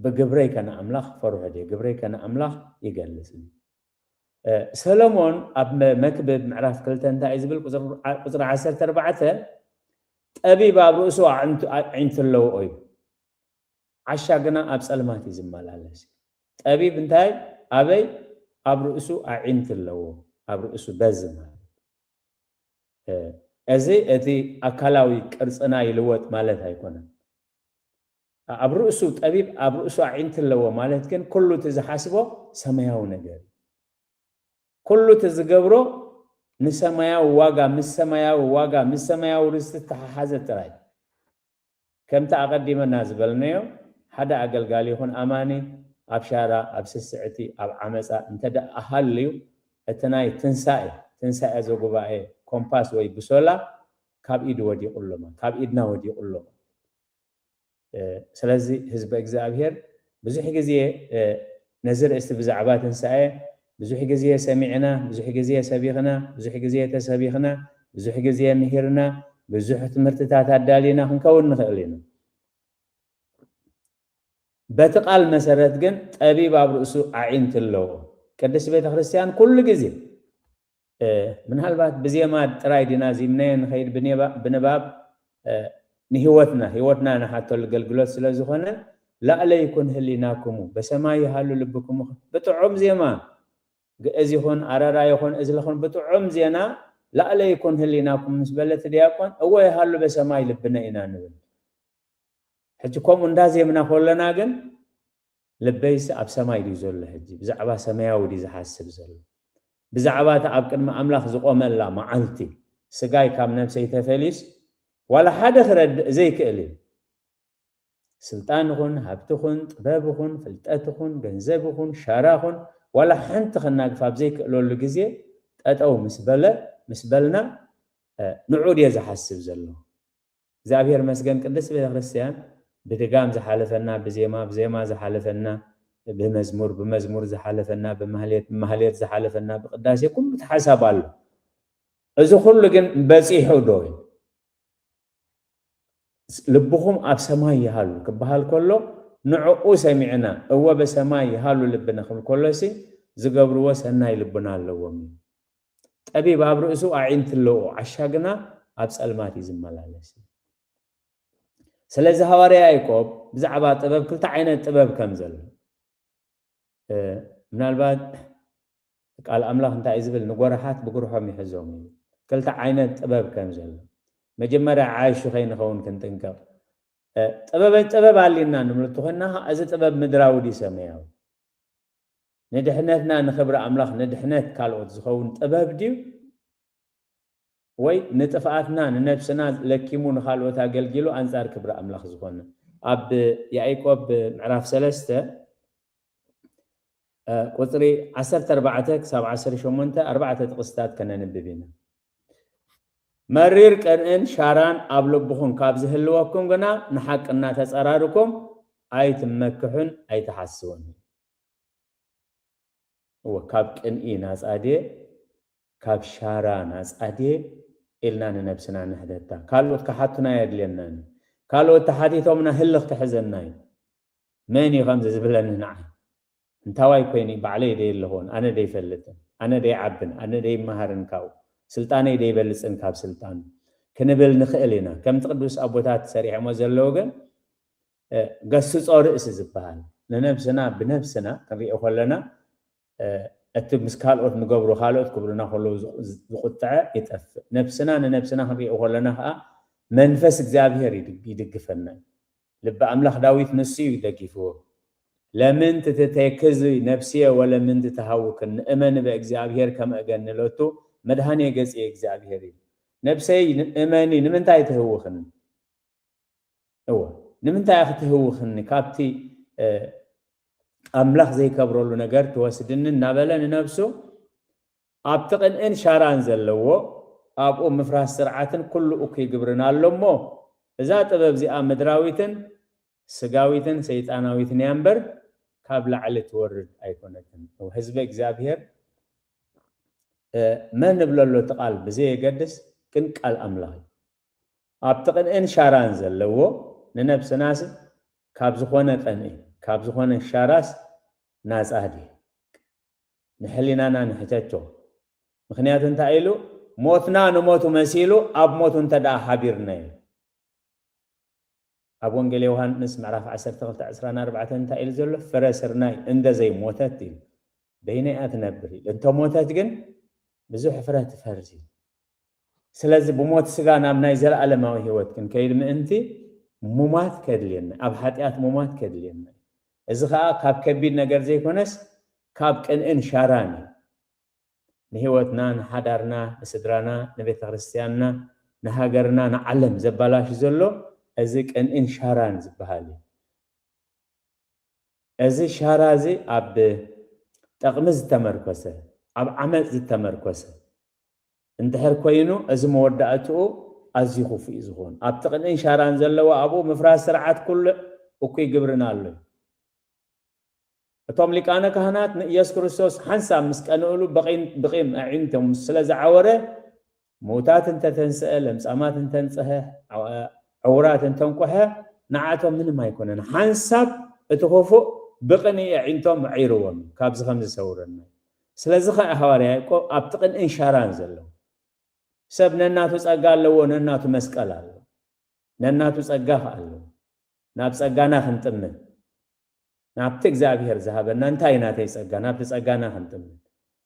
ብግብረይ ከ ንኣምላኽ ክፈርሖ ድየ ግብረይ ከ ንኣምላኽ ይገልጽ ድዩ ሰሎሞን ኣብ መክብብ ምዕራፍ ክልተ እንታይ እዩ ዝብል ቁፅሪ ዓሰርተ ኣርባዕተ ጠቢብ ኣብ ርእሱ ኣዒንቲ ኣለዎ እዩ ዓሻ ግና ኣብ ጸልማት እዩ ዝመላለስ። ጠቢብ እንታይ ኣበይ ኣብ ርእሱ ኣዒንቲ ኣለዎ ኣብ ርእሱ በዚ ማለት እዚ እቲ ኣካላዊ ቅርጽና ይልወጥ ማለት ኣይኮነን ኣብ ርእሱ ጠቢብ ኣብ ርእሱ ኣዒንቲ ኣለዎ ማለት ግን ኩሉ እቲ ዝሓስቦ ሰማያዊ ነገር እዩ ኩሉ እቲ ዝገብሮ ንሰማያዊ ዋጋ ምስ ሰማያዊ ዋጋ ምስ ሰማያዊ ርስቲ ተሓሓዘ ጥራይ ከምቲ ኣቐዲመና ዝበልናዮ፣ ሓደ ኣገልጋሊ ይኹን ኣማኒ ኣብ ሻራ፣ ኣብ ስስዕቲ፣ ኣብ ዓመጻ እንተደኣ ሃልዩ፣ እቲ ናይ ትንሳኤ፣ ትንሳኤ ዘጉባኤ፣ ኮምፓስ ወይ ብሶላ ካብ ኢዱ ወዲቑ ኣሎ ማለት፣ ካብ ኢድና ወዲቑ ኣሎ ማለት እዩ። ስለዚ ህዝበ እግዚኣብሄር ብዙሕ ግዜ ነዚ ርእስቲ ብዛዕባ ትንሳኤ፣ ብዙሕ ግዜ ሰሚዕና፣ ብዙሕ ግዜ ሰቢኽና፣ ብዙሕ ግዜ ተሰቢኽና፣ ብዙሕ ግዜ ምሂርና፣ ብዙሕ ትምህርትታት ኣዳሊና ክንከውን ንኽእል ኢና። በቲ ቃል መሰረት ግን ጠቢብ ኣብ ርእሱ ኣዒንቲ ኣለዎ። ቅድስት ቤተ ክርስቲያን ኩሉ ግዜ ምናልባት ብዜማ ጥራይ ዲና ዚምናዮ ንኸይድ ብንባብ ንሕይወትና ሕይወትና ንሓተሉ ገልግሎት ስለ ዝኾነ ላእለ ይኩን ህሊናኩሙ በሰማይ ይሃሉ ልብኩሙ ብጥዑም ዜማ ግእዝ ይኹን ኣረራ ይኹን እዝል ይኹን ብጥዑም ዜና ላእለ ይኩን ህሊናኩም ምስ በለ እቲ ዲያቆን እወ ይሃሉ በሰማይ ልብነ ኢና ንብል ሕጂ ከምኡ እንዳዜምና ኮለና ግን ልበይሲ ኣብ ሰማይ ድዩ ዘሎ ሕጂ? ብዛዕባ ሰማያዊ ድዩ ዝሓስብ ዘሎ? ብዛዕባ እታ ኣብ ቅድሚ ኣምላኽ ዝቖመላ መዓልቲ? ስጋይ ካብ ነፍሰይ ተፈልዩስ ዋላ ሓደ ክረድእ ዘይክእል እዩ። ስልጣን ይኹን ሃብቲ ይኹን ጥበብ ይኹን ፍልጠት ይኹን ገንዘብ ይኹን ሻራ ይኹን ዋላ ሓንቲ ከናግፍ ኣብ ዘይክእለሉ ግዜ ጠጠው ምስ በለ ምስ በልና ንዕኡ ድየ ዝሓስብ ዘለኹ? እግዚኣብሔር መስገን ቅድስት ቤተክርስቲያን ብድጋም ዝሓለፈና ብዜማ ብዜማ ዝሓለፈና ብመዝሙር ብመዝሙር ዝሓለፈና ብማህሌት ብማህሌት ዝሓለፈና ብቅዳሴ ኩሉ ተሓሳብ ኣሎ እዚ ኩሉ ግን በፂሑ ዶ እዩ ልብኹም ኣብ ሰማይ ይሃሉ ክበሃል ከሎ ንዕኡ ሰሚዕና እወ በሰማይ ይሃሉ ልብና ክብል ከሎሲ ዝገብርዎ ሰናይ ልቡና ኣለዎም እዩ ጠቢብ ኣብ ርእሱ ኣዒንቲ ኣለዎ፣ ዓሻ ግና ኣብ ጸልማት እዩ ዝመላለስ። ስለዚ ሃዋርያ ያእቆብ ብዛዕባ ጥበብ ክልተ ዓይነት ጥበብ ከም ዘሎ ምናልባት ቃል ኣምላኽ እንታይ ዝብል ንጎራሓት ብጉርሖም ይሕዞም እዩ ክልተ ዓይነት ጥበብ ከም ዘሎ መጀመርያ ዓያሹ ከይንኸውን ክንጥንቀቕ ጥበብ ጥበብ ኣልና ንምልቱ ኮይና እዚ ጥበብ ምድራዊ ድዩ ሰማያዊ ንድሕነትና ንኽብሪ ኣምላኽ ንድሕነት ካልኦት ዝኸውን ጥበብ ድዩ ወይ ንጥፍኣትና ንነብስና ለኪሙ ንኻልኦት ኣገልጊሉ ኣንጻር ክብሪ ኣምላኽ ዝኾነ? ኣብ ያኢቆብ ምዕራፍ ሰለስተ ቁጽሪ ዓሰርተ ኣርባዕተ ክሳብ ዓሰርተ ሸሞንተ ኣርባዕተ ጥቕስታት ከነንብብ ኢና። መሪር ቅንእን ሻራን ኣብ ልብኹም ካብ ዝህልወኩም ግና ንሓቂ እናተጸራርኩም ኣይትመክሑን ኣይትሓስዉን። እወ ካብ ቅንኢ ናጻ ድየ ካብ ሻራ ናጻ ድየ ኢልና ንነብስና ንሕተታ። ካልኦት ክሓቱና ኣየድልየናን እዩ። ካልኦት ተሓቲቶምና ህልኽ ክሕዘና እዩ። መን እዩ ከምዚ ዝብለኒ ንዓይ? እንታዋይ ኮይኒ ባዕለይ ደይለኽዎን ኣነ ደይፈልጥን ኣነ ደይዓብን ኣነ ደይመሃርን ካብኡ ስልጣነይ ደይበልጽን ካብ ስልጣኑ ክንብል ንኽእል ኢና ከምቲ ቅዱስ ኣቦታት ሰሪሖሞ ዘለዉ ግን ገስጾ ርእሲ ዝበሃል ንነብስና ብነብስና ክንሪኦ ከለና እቲ ምስ ካልኦት ንገብሮ ካልኦት ክብሉና ከለዉ ዝቁጥዐ ይጠፍእ ነብስና ንነብስና ክንሪኦ ከለና ከዓ መንፈስ እግዚኣብሔር ይድግፈና ልቢ ኣምላኽ ዳዊት ንሱ እዩ ደጊፍዎ ለምንት ትቴክዝ ነፍስየ ወለምንት ትሃውክን ንእመን በእግዚኣብሔር ከመ እገኒ ሎቱ መድኃኔ ገጽየ እግዚኣብሔር ኢሉ ነፍሰይ እመኒ ንምንታይ ትህውኽኒ እወ ንምንታይ እኺ ትህውኽኒ ካብቲ ኣምላኽ ዘይከብረሉ ነገር ትወስድኒ እናበለ ንነፍሱ ኣብቲ ቅንእን ሻራን ዘለዎ ኣብኡ ምፍራስ ስርዓትን ኩሉ እኩይ ግብርን ኣሎ እሞ እዛ ጥበብ እዚኣ ምድራዊትን ስጋዊትን ሰይጣናዊትን እያ እምበር ካብ ላዕሊ ትወርድ ኣይኮነትን። ህዝበ እግዚኣብሔር መን ንብለሎ እቲ ቃል ብዘየገድስ ግን ቃል ኣምላኽ እዩ። ኣብቲ ቅንእን ሻራን ዘለዎ ንነብስናሲ ካብ ዝኾነ ቅንኢ ካብ ዝኾነ ሻራስ ናጻ ድየ? ንሕሊናና ንሕተቶ። ምኽንያቱ እንታይ ኢሉ? ሞትና ንሞቱ መሲሉ ኣብ ሞቱ እንተድኣ ሓቢርናዮ። ኣብ ወንጌል ዮውሃንስ ምዕራፍ ዓሰርተ ክልተ ዕስራን ኣርባዕተን እንታይ ኢሉ ዘሎ? ፍረ ስርናይ እንደ ዘይሞተት ኢሉ፣ በይና እያ ትነብር ኢሉ፣ እንተ ሞተት ግን ብዙሕ ፍረ ትፈሪ ኢሉ። ስለዚ ብሞት ስጋ ናብ ናይ ዘለኣለማዊ ህይወት ክንከይድ ምእንቲ ሙማት ከድልየና፣ ኣብ ሓጢኣት ሙማት ከድልየና እዩ። እዚ ከኣ ካብ ከቢድ ነገር ዘይኮነስ ካብ ቅንእን ሻራን እዩ። ንህይወትና፣ ንሓዳርና፣ ንስድራና፣ ንቤተክርስትያንና፣ ንሃገርና፣ ንዓለም ዘባላሹ ዘሎ እዚ ቅንእን ሻራን ዝበሃል እዩ። እዚ ሻራ እዚ ኣብ ጠቕሚ ዝተመርኮሰ፣ ኣብ ዓመጽ ዝተመርኮሰ፣ እንድሕር ኮይኑ እዚ መወዳእትኡ ኣዝዩ ክፉእ እዩ ዝኸውን። ኣብቲ ቅንእን ሻራን ዘለዎ ኣብኡ ምፍራስ ስርዓት ኩልዕ እኩይ ግብርን ኣሎ እዩ። እቶም ሊቃነ ካህናት ንኢየሱስ ክርስቶስ ሓንሳብ ምስ ቀንእሉ ብቂም ብቂም ኣዒንቶም ስለ ዝዓወረ ምዉታት እንተ ተንስአ፣ ለምጻማት እንተ ኣንጽሀ፣ ዕዉራት እንተ ኣንቁሐ ንዓቶም ምንም ኣይኮነን። ሓንሳብ እቲ ክፉእ ብቅንኢ ኣዒንቶም ኣዒርዎም እዩ። ካብዚ ከምዚ ሰውረና። ስለዚ ኸኣ ሃዋርያ ያእቆብ ኣብቲ ቅንእን ሻራን ዘሎ ሰብ ነናቱ ጸጋ ኣለዎ፣ ነናቱ መስቀል ኣለዎ፣ ነናቱ ጸጋ ኸኣ ኣለዎ። ናብ ጸጋና ክንጥምት፣ ናብቲ እግዚኣብሄር ዝሃበና እንታይ እዩ ናተይ ጸጋ፣ ናብቲ ጸጋና ክንጥምት፣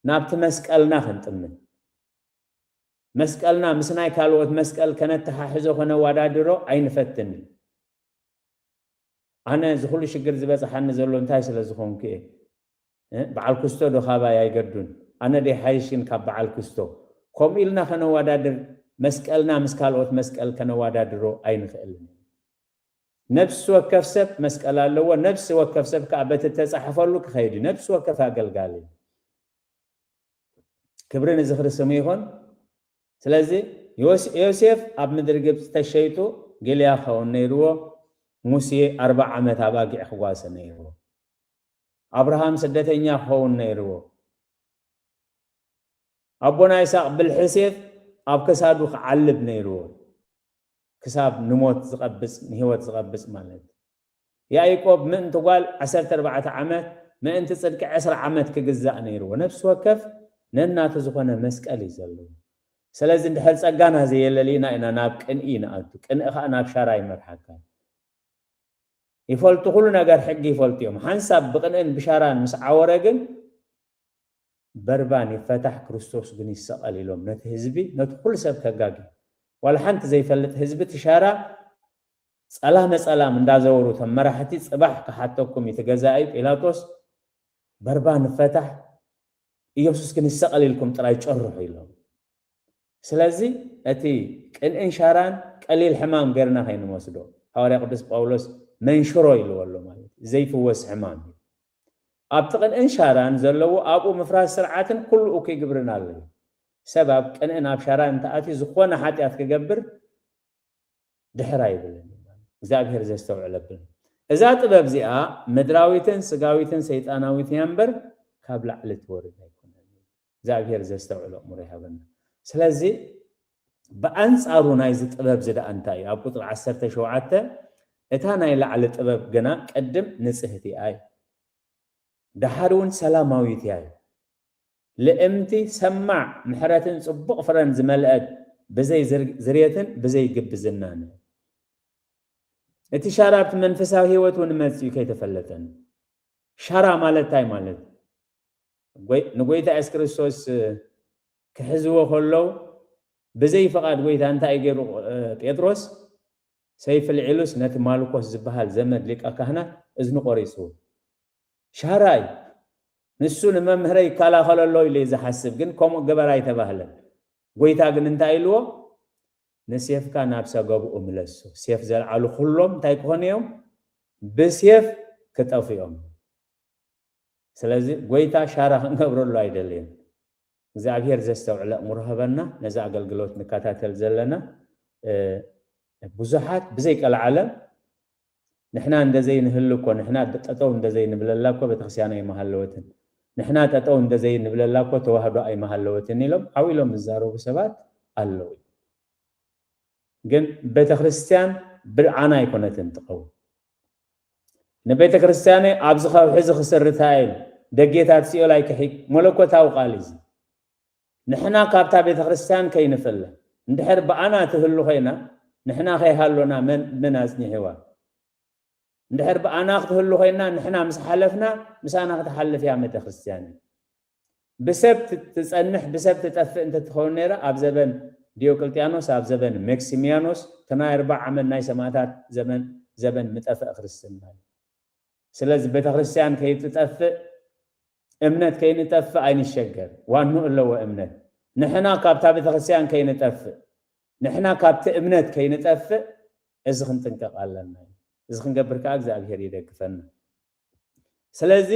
ናብቲ መስቀልና ክንጥምት፣ መስቀልና ምስ ናይ ካልኦት መስቀል ከነተሓሕዞ ከነዋዳድሮ ኣይንፈትን። ኣነ እዚ ኩሉ ሽግር ዝበጽሓኒ ዘሎ እንታይ ስለ ዝኮንኩ እየ እ በዓል ኩስቶ ዶ ካባይ ኣይገዱን ኣነ ዶ ይሓይሽ ግን ካብ በዓል ኩስቶ ከምኡ ኢልና ከነዋዳድር መስቀልና ምስ ካልኦት መስቀል ከነዋዳድሮ ኣይንክእልን ነብሲ ወከፍ ሰብ መስቀል ኣለዎ ነብሲ ወከፍ ሰብ ከኣ በቲ ተጻሕፈሉ ክከይድ እዩ ነብሲ ወከፍ ኣገልጋሊ ክብሪ ንዝኽሪ ስሙ ይኹን። ስለዚ ዮሴፍ ኣብ ምድሪ ግብጺ ተሸይጡ ጊልያ ክኸውን ነይርዎ፣ ሙሴ ኣርብዓ ዓመት ኣባጊዕ ክጓሰ ነይርዎ፣ ኣብርሃም ስደተኛ ክኸውን ነይርዎ፣ ኣቦና ይስሃቅ ብልሒ ሴፍ ኣብ ክሳዱ ክዓልብ ነይርዎ፣ ክሳብ ንሞት ዝቐብጽ ንህይወት ዝቐብጽ ማለት። ያኢቆብ ምእንቲ ጓል ዓሰርተ ኣርባዕተ ዓመት ምእንቲ ጽድቂ ዕስራ ዓመት ክግዛእ ነይርዎ ነፍሲ ወከፍ ነናቱ ዝኾነ መስቀል እዩ ዘለዎ ሰለዚ እንድሕር ጸጋና ዘየለሊና ኢና ናብ ቅንኢ ንኣቱ ቅንኢ ከኣ ናብ ሻራ ይመርሓካ እዩ ይፈልጡ ኩሉ ነገር ሕጊ ይፈልጡ እዮም ሓንሳብ ብቅንእን ብሻራን ምስ ዓወረ ግን በርባን ይፈታሕ ክርስቶስ ግን ይሰቐል ኢሎም ነቲ ህዝቢ ነቲ ኩሉ ሰብ ከጋጊ ዋላ ሓንቲ ዘይፈልጥ ህዝቢ ትሻራ ጸላም ነጸላም እንዳዘወሩ እቶም መራሕቲ ጽባሕ ክሓተኩም እዩ እቲ ገዛኢ ጲላጦስ በርባ ንፈታሕ ኢየሱስ ግን ይሰቀል ኢልኩም ጥራይ ጨርሑ ኢሎም ስለዚ እቲ ቅንእን ሻራን ቀሊል ሕማም ገርና ከይንወስዶ ሃዋርያ ቅዱስ ጳውሎስ መንሽሮ ኢልዎ ኣሎ ማለት እዩ ዘይፍወስ ሕማም እዩ ኣብቲ ቅንእን ሻራን ዘለዎ ኣብኡ ምፍራስ ስርዓትን ኩሉ እኩይ ግብርን ኣሎ እዩ ሰብ ኣብ ቅንእን ኣብ ሻራን እንተኣትዩ ዝኾነ ሓጢኣት ክገብር ድሕር ኣይብልን እዩ ማለት እግዚኣብሔር ዘስተውዕል ኣብል እዛ ጥበብ እዚኣ ምድራዊትን ስጋዊትን ሰይጣናዊትን እያ እምበር ካብ ላዕሊ ትወርድ ኣይኮነን እግዚኣብሔር ዘስተውዕል ኣእምሮ ይሃበና ስለዚ ብኣንጻሩ ናይዚ ጥበብ እዚ ደኣ እንታይ እዩ ኣብ ቁፅሪ ዓሰርተ ሸውዓተ እታ ናይ ላዕሊ ጥበብ ግና ቅድም ንጽህቲ እያ እዩ ደሓር እውን ሰላማዊት እያ እዩ ልእምቲ ሰማዕ ምሕረትን ጽቡቕ ፍረን ዝመልአት ብዘይ ዝርየትን ብዘይ ግብዝናን። እቲ ሻራ ኣብቲ መንፈሳዊ ህይወት እውን መጺኡ ከይተፈለጠን። ሻራ ማለት እንታይ ማለት ንጎይታ የሱስ ክርስቶስ ክሕዝዎ ከለው ብዘይ ፍቓድ ጎይታ እንታይ ገይሩ ጴጥሮስ ሰይፊ ልዒሉስ ነቲ ማልኮስ ዝበሃል ዘመድ ሊቀ ካህናት እዝኑ ቆሪጹ። ሻራይ ንሱ ንመምህረይ ይካላኸሎ ኣሎ ኢሉ'ዩ ዝሓስብ ግን ከምኡ ግበር ኣይተባህለን ጎይታ ግን እንታይ ኢልዎ ንሴፍካ ናብ ሰገቡኡ ምለሶ ሴፍ ዘልዓሉ ኩሎም እንታይ ክኾኑ እዮም ብሴፍ ክጠፍኡ'ዮም ስለዚ ጎይታ ሻራ ክንገብረሉ ኣይደለየን እግዚኣብሔር ዘስተውዕል ኣእምሮ ሀበና ነዚ ኣገልግሎት ንካታተል ዘለና ብዙሓት ብዘይ ቀልዓለም ንሕና እንደዘይ ንህሉ እኮ ንሕና ጠጠው እንደዘይ ንብለላ እኮ ቤተክርስቲያን ኣይመሃለወትን ንሕና ጠጠው እንደዘይ ንብለላ እኮ ተዋህዶ ኣይመሃለወትን ኢሎም ዓው ኢሎም ዝዛረቡ ሰባት ኣለዉ ግን ቤተክርስቲያን ብልዓና ኣይኮነትን ትቀውም ንቤተ ክርስቲያነይ ኣብዚ ከውሒ እዚ ክስርታ እየ ኢሉ። ደጌታት ሲኦል ኣይክሒድ። መለኮታዊ ቃል እዩ እዚ። ንሕና ካብታ ቤተ ክርስቲያን ከይንፍለ። እንድሕር ብኣና ትህሉ ኮይና ንሕና ከይሃሎና መን መን ኣጽኒሒዋ? እንድሕር ብኣና ክትህሉ ኮይና ንሕና ምስ ሓለፍና ምሳና ክትሓልፍ እያ ቤተ ክርስቲያነይ። ብሰብ ትጸንሕ ብሰብ ትጠፍእ እንተ ትኸውን ነይራ ኣብ ዘበን ዲዮቅልጥያኖስ ኣብ ዘበን መክሲምያኖስ እቲ ናይ ኣርብዓ ዓመት ናይ ሰማእታት ዘመን ዘበን ምጠፈእ ክርስትና እዩ ስለዚ ቤተክርስትያን ከይትጠፍእ እምነት ከይንጠፍእ ኣይንሸገር ዋንኡ ኣለዎ እምነት ንሕና ካብታ ቤተክርስትያን ከይንጠፍእ ንሕና ካብቲ እምነት ከይንጠፍእ እዚ ክንጥንቀቕ ኣለና እዩ እዚ ክንገብር ከዓ እግዚኣብሔር ይደግፈና ስለዚ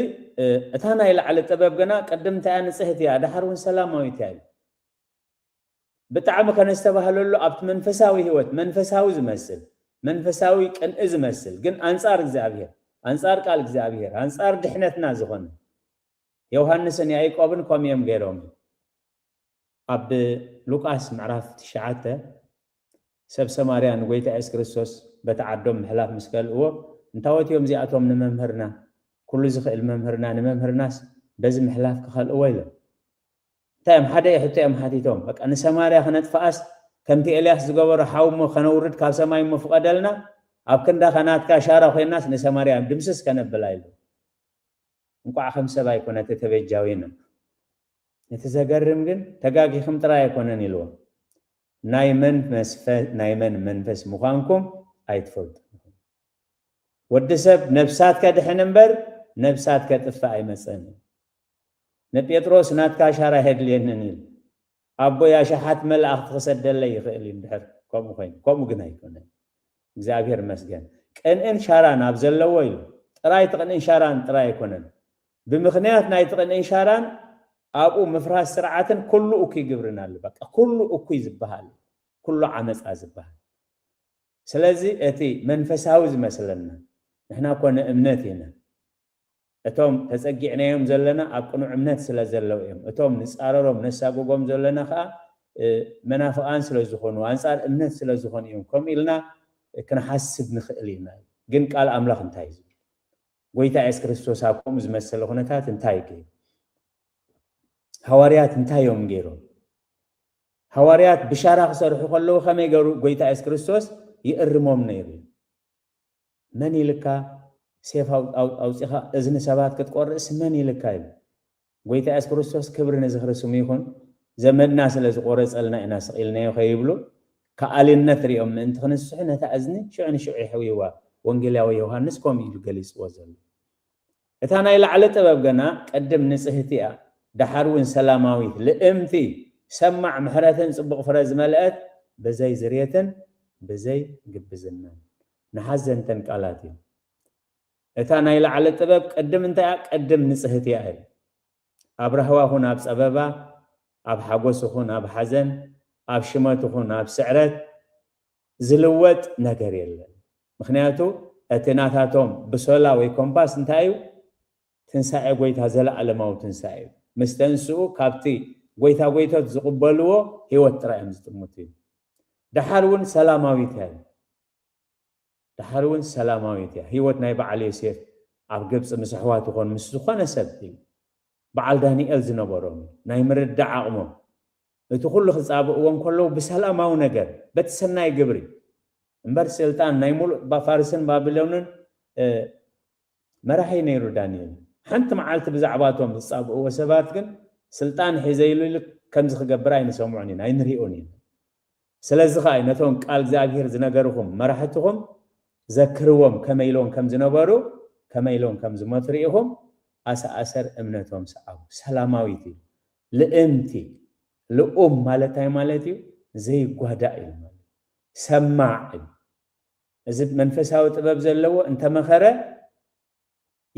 እታ ናይ ላዕሊ ጥበብ ግና ቅድም እንታያ ንጽህቲ እያ ደሓር እውን ሰላማዊት እያ እዩ ብጣዕሚ ከነስተባህለሉ ኣብቲ መንፈሳዊ ህይወት መንፈሳዊ ዝመስል መንፈሳዊ ቅንኢ ዝመስል ግን ኣንጻር እግዚኣብሔር ኣንጻር ቃል እግዚኣብሔር ኣንጻር ድሕነትና ዝኾነ ዮሃንስን ያዕቆብን ከምኡ እዮም ገይሮም ኣብ ሉቃስ ምዕራፍ ትሽዓተ፣ ሰብ ሰማርያ ንጐይታ የሱስ ክርስቶስ በቲ ዓዶም ምሕላፍ ምስ ከልእዎ፣ እንታዎት እዮም እዚኣቶም ንመምህርና፣ ኵሉ ዚኽእል መምህርና፣ ንመምህርናስ በዚ ምሕላፍ ኪኸልእዎ? ኢሎም። እንታይ እዮም ሓደ ሕቶ እዮም ሓቲቶም፣ በቃ ንሰማርያ ክነጥፍኣስ ከምቲ ኤልያስ ዝገበሮ ሓዊ እሞ ከነውርድ ካብ ሰማይ እሞ ፍቐደልና፣ ኣብ ክንዳኻ ናትካ ሻራ ኮይናስ ንሰማርያ ድምስስ ከነብላ ኢሎም። እንቋዕ ከም ሰብ ኣይኮነተ ተበጃዊን እም እቲ ዘገርም ግን ተጋጊክም ጥራይ ኣይኮነን ኢልዎም ናይ መን መስፈ ናይ መን መንፈስ ምዃንኩም ኣይትፈልጡን ኢኹም ወዲ ሰብ ነብሳት ከድሕን እምበር ነብሳት ከጥፍእ ኣይመጸን እዩ ንጴጥሮስ ናትካ ኣሻራ ኣየድልየንን ኢሉ ኣቦይ ኣሽሓት መላእኽቲ ክሰደለይ ይኽእል እዩ እንድሕር ከምኡ ኮይኑ ከምኡ ግን ኣይኮነን እግዚኣብሔር ይመስገን ቅንእን ሻራን ኣብ ዘለዎ እዩ ጥራይ እቲ ቅንእን ሻራን ጥራይ ኣይኮነን ብምኽንያት ናይቲ ቅንእን ሻራን ኣብኡ ምፍራስ ስርዓትን ኩሉ እኩይ ግብርን ኣሎ በቃ ኩሉ እኩይ ዝበሃል ኩሉ ዓመፃ ዝበሃል ስለዚ እቲ መንፈሳዊ ዝመስለና ንሕና ኮነ እምነት ኢና እቶም ተጸጊዕናዮም ዘለና ኣብ ቅኑዕ እምነት ስለ ዘለዉ እዮም። እቶም ንጻረሮም ነሳጉጎም ዘሎና ከኣ መናፍቓን ስለ ዝኾኑ ኣንጻር እምነት ስለ ዝኾኑ እዮም ከምኡ ኢልና ክንሓስብ ንኽእል ኢና ኢሉ። ግን ቃል ኣምላኽ እንታይ እዩ ዝብል? ጎይታ የሱስ ክርስቶስ ኣብ ከምኡ ዝመሰለ ኩነታት እንታይ እዩ ገይሩ? ሃዋርያት እንታይ እዮም ገይሮም? ሃዋርያት ብሻራ ክሰርሑ ከለዉ ከመይ ገሩ ጎይታ የሱስ ክርስቶስ ይእርሞም ነይሩ እዩ? መን ኢልካ ሴፍ ኣውጺኻ እዝኒ ሰባት ክትቆርጽ መን ኢልካ ኢሉ ጎይታ የሱስ ክርስቶስ ክብሪ ንዝኽሪ ስሙ ይኹን ዘመድና ስለ ዝቆረጸልና ኢና ስቂልናዮ ከይብሉ ከኣሊነት ሪኦም ምእንቲ ክንስሑ ነታ እዝኒ ሽዑ ንሽዑ የሕውይዋ ወንጌላዊ ዮሃንስ ከምኡ ኢዩ ገሊጽዎ ዘሎ እታ ናይ ላዕለ ጥበብ ገና ቅድም ንጽህቲ እያ ዳሓር ውን ሰላማዊት ልእምቲ ሰማዕ ምሕረትን ጽቡቅ ፍረ ዝመልእት ብዘይ ዝርየትን ብዘይ ግብዝናን ንሓዘንተን ቃላት እዩ እታ ናይ ላዕለ ጥበብ ቅድም እንታይ እያ ቅድም ንጽህቲ እያ እዩ ኣብ ራህዋ ኹን ኣብ ጸበባ ኣብ ሓጎስ ኹን ኣብ ሓዘን ኣብ ሽመት ኹን ኣብ ስዕረት ዝልወጥ ነገር የለን ምክንያቱ እቲ ናታቶም ብሶላ ወይ ኮምፓስ እንታይ እዩ ትንሳኤ ጎይታ ዘላኣለማዊ ትንሳኤ እዩ ምስ ተንስኡ ካብቲ ጎይታ ጎይቶት ዝቅበልዎ ሂወት ጥራይ እዮም ዝጥምቱ እዩ ደሓር እውን ሰላማዊት እያ እዩ ደሓር እውን ሰላማዊት እያ ሂወት ናይ በዓል ዮሴፍ ኣብ ግብፂ ምስ ኣሕዋት ይኾን ምስ ዝኾነ ሰብ እዩ በዓል ዳንኤል ዝነበሮም ናይ ምርዳዕ ኣቕሞም እቲ ኩሉ ክጻብእዎ እንከለዉ ብሰላማዊ ነገር በቲ ሰናይ ግብሪ እምበር ስልጣን ናይ ሙሉእ ፋርስን ባቢሎንን መራሒ ነይሩ ዳንኤል ሓንቲ መዓልቲ ብዛዕባቶም ዝጻብእዎ ሰባት ግን ስልጣን ሒዘ ኢሉ ኢሉ ከምዚ ክገብር ኣይንሰምዖን ኢና ኣይንሪኦን ኢና ስለዚ ከኣ እዩ ነቶም ቃል እግዚኣብሄር ዝነገርኹም መራሕትኹም ዘክርዎም ከመይ ኢሎም ከም ዝነበሩ ከመይ ኢሎም ከም ዝሞቱ ርኢኹም ኣሰኣሰር እምነቶም ሰዓቡ ሰላማዊት እዩ ልእምቲ፣ ልኡም ማለት ታይ ማለት እዩ? ዘይጓዳእ እዩ ማለት እዩ። ሰማዕ እዩ። እዚ መንፈሳዊ ጥበብ ዘለዎ እንተመኸረ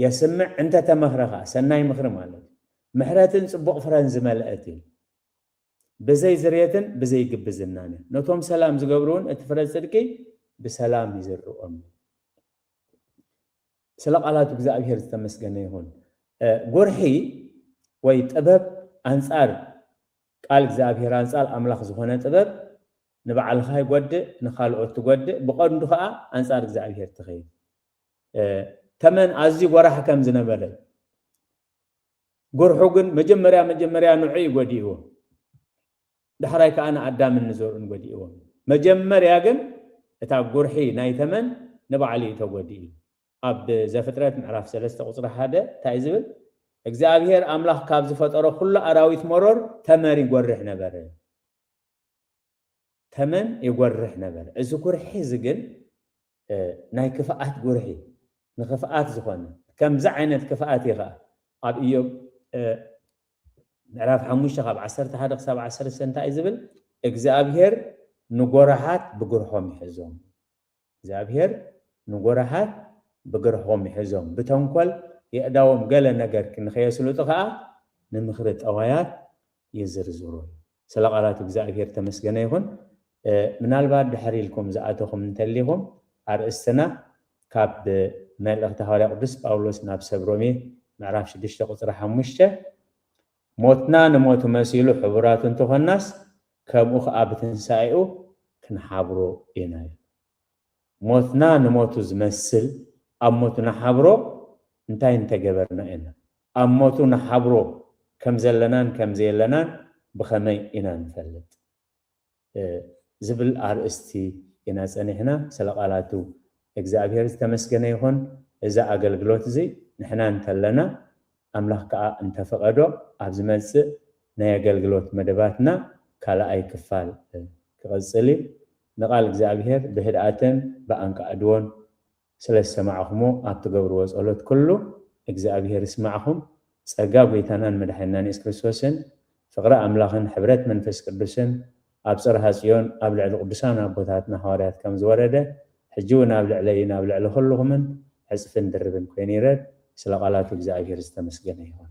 የስምዕ እንተተመኽረ ኸዓ ሰናይ ምኽሪ ማለት እዩ። ምሕረትን ፅቡቕ ፍረን ዝመልአት እዩ። ብዘይ ዝርየትን ብዘይ ግብዝናን እያ። ነቶም ሰላም ዝገብሩ እውን እቲ ፍረ ፅድቂ ብሰላም ይዝርኦም እዩ። ስለ ቃላቱ እግዝኣብሄር ዝተመስገነ ይኹን። ጎርሒ ወይ ጥበብ ኣንጻር ቃል እግዝኣብሄር ኣንጻር ኣምላኽ ዝኾነ ጥበብ ንባዕልኻ ይጎድእ ንኻልኦት ትጎድእ ብቐንዱ ከኣ ኣንጻር እግዝኣብሄር ትኸይድ። ተመን ኣዝዩ ጎራሕ ከም ዝነበረ ጎርሑ ግን መጀመርያ መጀመርያ ንዑ እዩ ጎዲእዎ። ዳሕራይ ከኣ ንኣዳምን ንዘርኡን ጐዲእዎም እዩ። መጀመርያ ግን እታ ጕርሒ ናይ ተመን ንባዕሉ እዩ ተጐዲኡ። ኣብ ዘፍጥረት ምዕራፍ ሰለስተ ቍጽሪ ሓደ እንታይ እዩ ዝብል? እግዚኣብሄር ኣምላኽ ካብ ዝፈጠሮ ኵሉ ኣራዊት መሮር ተመር ይጐርሕ ነበረ። ተመን ይጐርሕ ነበረ። እዚ ጕርሒ እዚ ግን ናይ ክፍኣት ጉርሒ ንክፍኣት ዝኾነ ከምዚ ዓይነት ክፍኣት እዩ ኸኣ ኣብ እዮብ ምዕራፍ ሓሙሽተ ካብ ዓሰርተ ሓደ ክሳብ ዓሰርተ እንታይ እዩ ዝብል እግዚኣብሄር ንጎራሓት ብግርሖም ይሕዞም እግዚኣብሄር ንጎራሓት ብግርሖም ይሕዞም ብተንኮል የእዳዎም ገለ ነገር ንኸየስልጡ ኸኣ ንምኽሪ ጠዋያት ይዝርዝሩ ስለ ቃላት እግዝኣብሄር ተመስገነ ይኹን። ምናልባት ድሕር ኢልኩም ዝኣተኹም እንተሊኹም ኣርእስትና ካብ መልእኽቲ ሃዋርያ ቅዱስ ጳውሎስ ናብ ሰብ ሮሜ ምዕራፍ ሽዱሽተ ቁጽሪ ሓሙሽተ ሞትና ንሞቱ መሲሉ ሕቡራት እንተኾናስ ከምኡ ከኣ ብትንሳኤኡ ክንሓብሮ ኢና እዩ። ሞትና ንሞቱ ዝመስል ኣብ ሞቱ ንሓብሮ እንታይ እንተገበርና ኢና? ኣብ ሞቱ ንሓብሮ ከም ዘለናን ከም ዘየለናን ብኸመይ ኢና ንፈልጥ? ዝብል ኣርእስቲ ኢና ጸኒሕና። ስለ ቃላቱ እግዝኣብሄር ዝተመስገነ ይኹን። እዚ ኣገልግሎት እዚ ንሕና እንተለና ኣምላኽ ከኣ እንተ ፈቐዶ ኣብ ዝመጽእ ናይ ኣገልግሎት መደባትና ካልኣይ ክፋል ክቕጽል እዩ። ንቓል እግዚኣብሄር ብህድኣትን ብኣንቃዕድዎን ስለ ዝሰማዕኹሞ ኣብ ትገብርዎ ጸሎት ኩሉ እግዚኣብሄር ይስማዕኹም። ጸጋ ጎይታናን መድሓኒናን የሱስ ክርስቶስን ፍቕሪ ኣምላኽን ሕብረት መንፈስ ቅዱስን ኣብ ጽርሃ ጽዮን ኣብ ልዕሊ ቅዱሳን ኣቦታትና ሃዋርያት ከም ዝወረደ ሕጂ ውን ኣብ ልዕለይን ኣብ ልዕሊ ኩሉኹምን ዕጽፍን ድርብን ኮይኑ ይረድ ስለ ቃላቱ እግዚኣብሄር ዝተመስገነ ይኹን።